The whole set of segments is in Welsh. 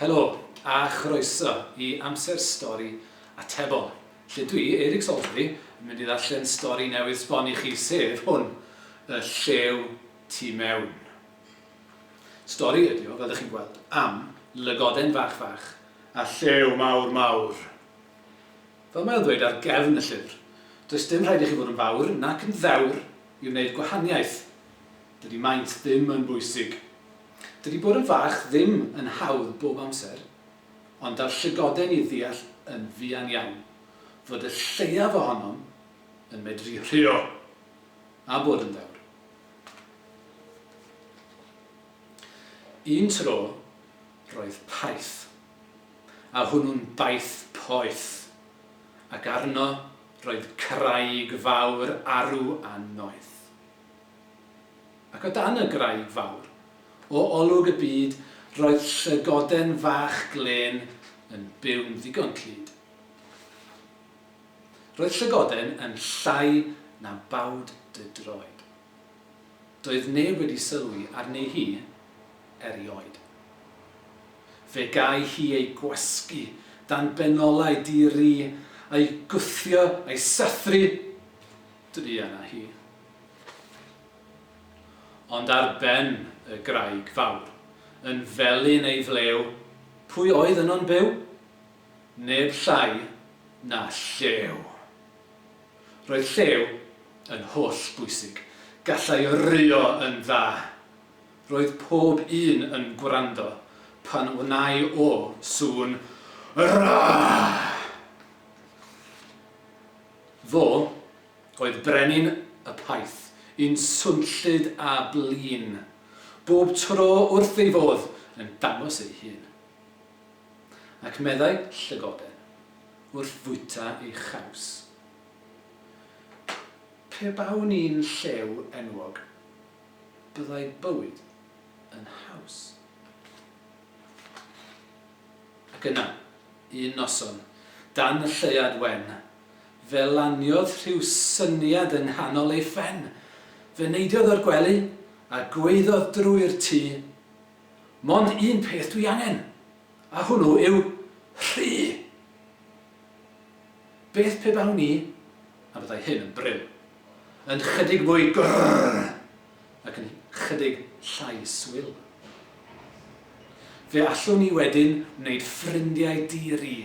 Helo a chroeso i Amser Stori Atebol, lle dwi, Eric Salisbury, yn mynd i ddarllen stori newydd sbon i chi, sef hwn, Y Llew Tu Mewn. Stori ydi o, fel ydych chi'n gweld, am lygoden fach fach a llew mawr mawr. Fel mae o'n dweud ar gefn y llyfr, does dim rhaid i chi fod yn fawr nac yn ddewr i wneud gwahaniaeth. Dydy maint ddim yn bwysig. Dydy bod yn fach ddim yn hawdd bob amser, ond daw'r llygoden i ddeall yn fuan iawn fod y lleiaf ohonom yn medru rhuo a bod yn ddewr. Un tro roedd Paith. a hwnnw'n baith poeth, ac arno roedd craig fawr arw a noeth. Ac o dan y graig fawr, o olwg y byd, roedd llygoden fach glên yn byw'n ddigon clyd. Roedd llygoden yn llai na bawd dy droed. Doedd neb wedi sylwi arni hi erioed. Fe gai hi ei gwasgu dan benolau di-ri, a'i gwthio a'i sathru, druan â hi. Ond ar ben y graig fawr, yn felyn ei flew, pwy oedd yno'n byw? Neb llai na Llew! Roedd llew yn holl bwysig. Gallai ryio yn dda. Roedd pob un yn gwrando pan wnai o sŵn Raa! Fo oedd brenin y paith, un swnllyd a blin, bob tro wrth ei fodd yn dangos ei hun. ac meddai llygoden wrth fwyta ei chaws, Pe bawn i'n llew enwog, byddai bywyd yn haws. Ac yna, un noson, dan y lleuad wen, fe laniodd rhyw syniad yng nghanol ei phen. Fe neidiodd o'r gwely a gwaeddodd drwy'r tŷ, Mond un peth dwi angen, a hwnnw yw rhy! Beth pe bawn i, a byddai hyn yn brin, yn 'chydig mwy grrrr ac yn 'chydig llai swil? Fe allwn i wedyn wneud ffrindiau di-ri,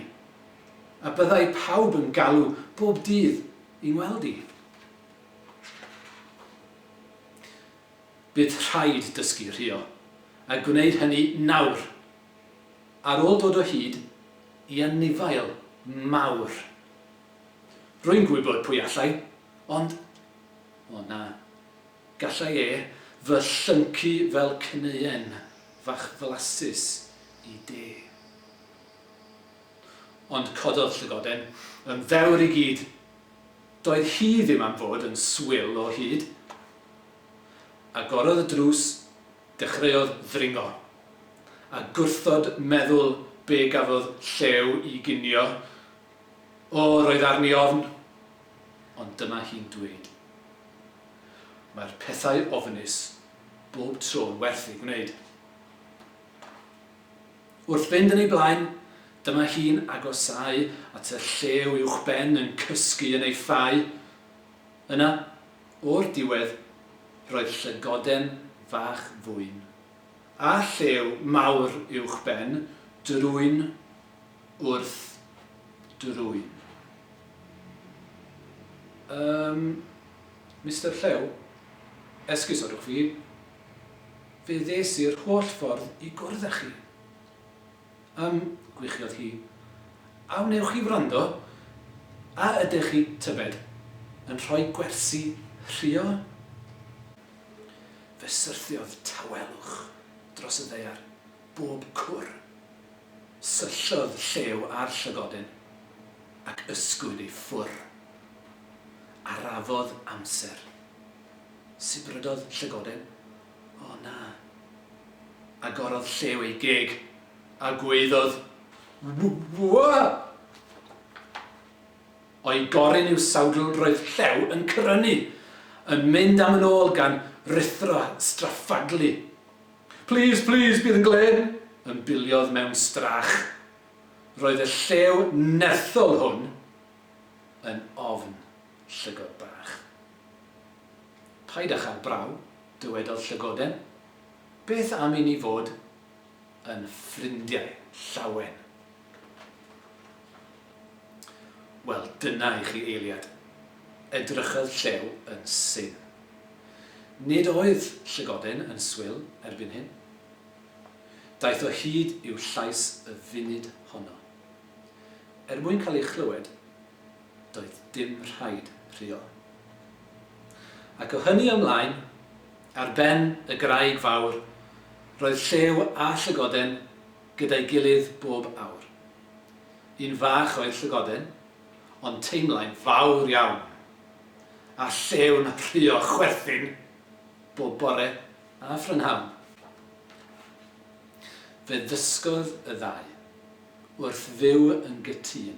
a byddai pawb yn galw bob dydd i ngweld i. Bydd rhaid dysgu rhuo, a gwneud hynny nawr, ar ôl dod o hyd i anifail mawr. Rwy'n gwybod pwy allai, ond, o na, gallai e fy llyncu fel cneuen fach flasus i de. Ond cododd llygoden yn fewr i gyd. Doedd hi ddim am fod yn swil o hyd. Agorodd y drws, dechreuodd ddringo. A gwrthod meddwl be gafodd Llew i ginio, O, roedd arni ofn! Ond dyma hi'n dweud, Mae'r pethau ofnus bob tro'n werth eu gwneud. Wrth fynd yn ei blaen, dyma hi'n agosáu at y llew uwchben yn cysgu yn ei ffau, Yna, o'r diwedd, roedd llygoden fach fwyn, a llew mawr uwchben drwyn wrth drwyn. Yym, Mister Llew, esgusodwch fi, fe ddes i'r holl ffordd i gwrdd â chi. Yym, gwichiodd hi. A wnewch chi wrando? A ydych chi, tybed, yn rhoi gwersi rhuo? Fe syrthiodd tawelwch dros y ddaear, bob cwr. Syllodd Llew ar llygodyn, ac ysgwyd ei ffwr. Arafodd amser. Sibrydodd llygodyn. O na. Agorodd Llew ei geg, a gwaeddodd, W-w-w-w-w-w! O'i goryn i'w sawdl roedd Llew yn cyrrynu, yn mynd am yn ôl gan ruthro straffaglu. Plîs, plîs, bydd yn glên! ymbiliodd mewn strach. Roedd y llew nerthol hwn yn ofn llygod bach. Paid â chael braw, dywedodd Llygoden. Beth am i ni fod yn ffrindiau, Llawen? Wel, dyna i chi eiliad. Edrychodd Llew yn syn. Nid oedd Llygoden yn swil erbyn hyn. Daeth o hyd i'w llais y funud honno. Er mwyn cael ei chlywed, doedd dim rhaid rhuo. Ac o hynny ymlaen, ar ben y graig fawr, roedd Llew a Llygoden gyda'i gilydd bob awr. Un fach oedd Llygoden, ond teimlai'n fawr iawn. A Llew'n rhuo chwerthin bob bore a phrynhawn. Fe ddysgodd y ddau wrth fyw yn gytûn.